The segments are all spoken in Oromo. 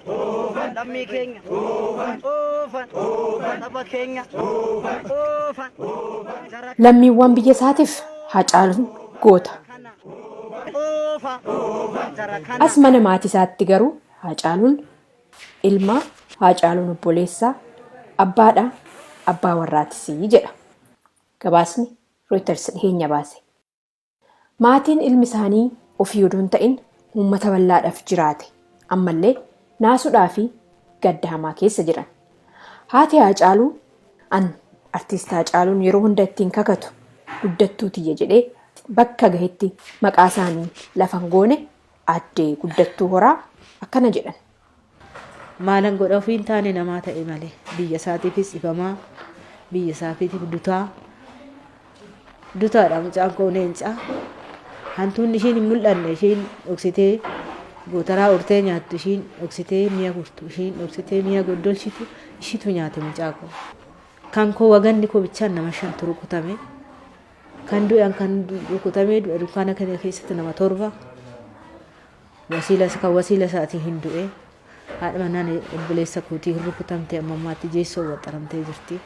Oofan lammii keenya oofan saba keenya oofan gara Lammiiwwan biyya isaatiif Hacaaluun goota. kana oofan gara kana As mana maatii isaatti garuu Hacaaluun ilma Hacaaluun obboleessaa abbaadha abbaa warraatis jedha. Gabaasni Reuters dhiheenya baase. Maatiin ilmi isaanii ofii odoo hin ta'in uummata bal'aadhaaf jiraate ammallee naasuudhaa fi gadda hamaa keessa jiran. Haati Haacaaluu an Artiist Haacaaluun yeroo hunda ittiin kakatu guddattuu tiyya jedhee bakka gahetti maqaa isaanii lafa hin goone Aadde Guddattuu Horaa akkana jedhan. Maalan godha ofii hin taane namaa ta'e malee biyya isaatiifis dhibamaa biyya isaafiitiif dutaa dutaadha mucaan koo leencaa hantuunni ishiin hin mul'anne ishiin dhoksitee gootaraa urtee nyaattu ishiin dhoksitee mi'a gurtu ishiin dhoksitee mi'a goddolchitu ishiitu nyaate mucaa koo kan koo waganni koo bichaan nama shantu rukutame kan du'an kan rukutamee du'a dukkaana kana keessatti nama torba Wasiila kan wasiila isaatii hin du'e. Haadha manaan obboleessa kootii hin rukutamte amma ammaatti jeessoo waxxaramtee jirti.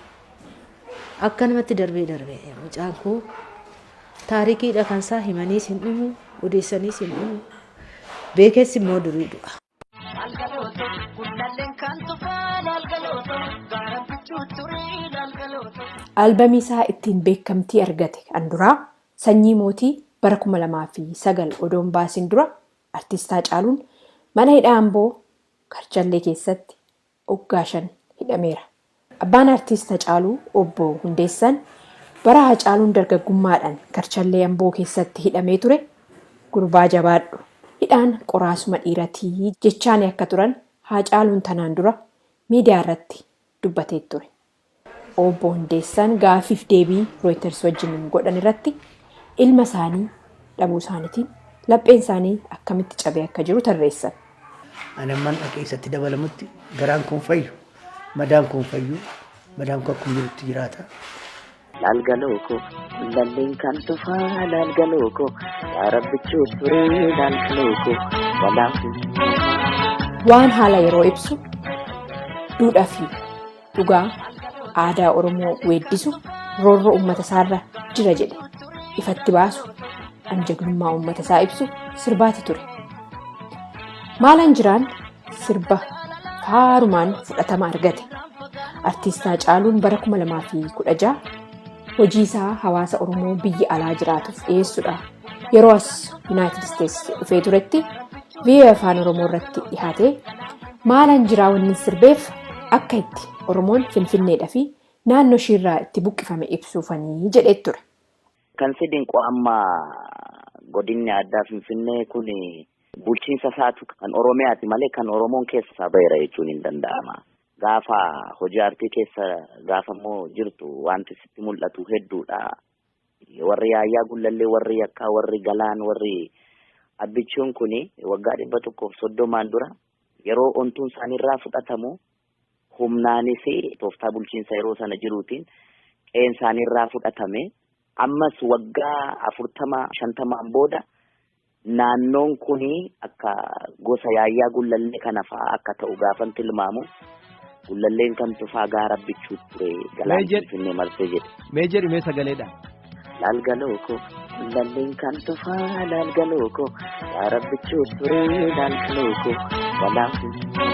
Akkanumatti darbee darbee mucaan koo taarikiidha kan isaa himaniis hin dhumu odeessaniis hin dhumu beekeessi immoo durii du'a. Algalooto gullalleen kan tufaan algalooto gaara bichuu turii algalooto. Albamii isaa ittiin beekamtii argate kan duraa Sanyii Mootii bara 2009 odoo hin baasin dura Artiist Haacaaluun mana hidhaa Amboo Karchallee keessatti oggaa shan hidhameera. Abbaan Artiist Hacaaluu Obbo Hundeessan bara Haacaaluun dargaggummaadhan Karchallee Amboo keessatti hidhamee ture gurbaa jabaadhu hidhaan qoraasuma dhiirati jechaani akka turan Haacaaluun tanaan dura miidiyaarratti dubbateet ture. Obbo Hundeessaan gaaffiif deebii Rooyiters wajjin godhan irratti ilma isaanii dhabuu isaaniitiin lapheen isaanii akkamitti cabee akka jiru tarreessan. Ani amman dhaqee isatti dabalamutti garaan koon fayyu, madaan koon fayyu, madaan koo akkuma jirutti jiraata. Laal galoo koo lalleen kan tufaa laal galoo koo yaa rabbichuu turee laal galoo koo walaafuu. Waan haala yeroo ibsu duudhaa fi dhugaa aadaa Oromoo weeddisu roorroo uummata isaarra jira jedhe ifatti baasu an jagnummaa uummata isaa ibsu sirbaati ture. Maalaan jiraan sirba faarumaan fudhatama argate. Artiistaa Caaluun bara 2016 hojii isaa hawaasa Oromoo biyya alaa jiraatuuf dhiyeessudha yeroo as yuunaayitid isteets dhufee turetti viiyoo afaan oromoo irratti dhihaatee maalan jiraa wanni sirbeef akka itti oromoon finfinneedha fi naannoo ishiirraa itti buqqifame ibsuufanii jedhee ture. Kan si dinqu amma godinni addaa finfinnee kun bulchiinsa isaatu kan oromiyaati malee kan oromoon keessa isaa ba'eera jechuun hin danda'ama. Gaafa hojii aartii keessa gaafa immoo jirtu wanti sitti mul'atu hedduudha. Warri Yaayyaa Gullallee, warri Yakkaa, warri Galaan, warri Abbichuun kuni waggaa dhibba tokkoof soddomaan dura yeroo ontuun isaaniirraa fudhatamu humnaanis tooftaa bulchiinsa yeroo sana jiruutiin qe'een isaaniirraa fudhatame. Ammas waggaa afurtama shantamaan booda Naannoon kun akka gosa Yaayyaa Gullallee kana fa'aa akka ta'u gaafan tilmaamu Gullalleen kan tufaa gaara bichuu ture galaan Mee jedh- finfinnee marsee jedhe. Mee jedhi mee sagaleedhaan. Laal galoo koo Gullalleen kan tufaa laal galoo koo gaara bichuu ture laal galoo koo galaan finfinnee.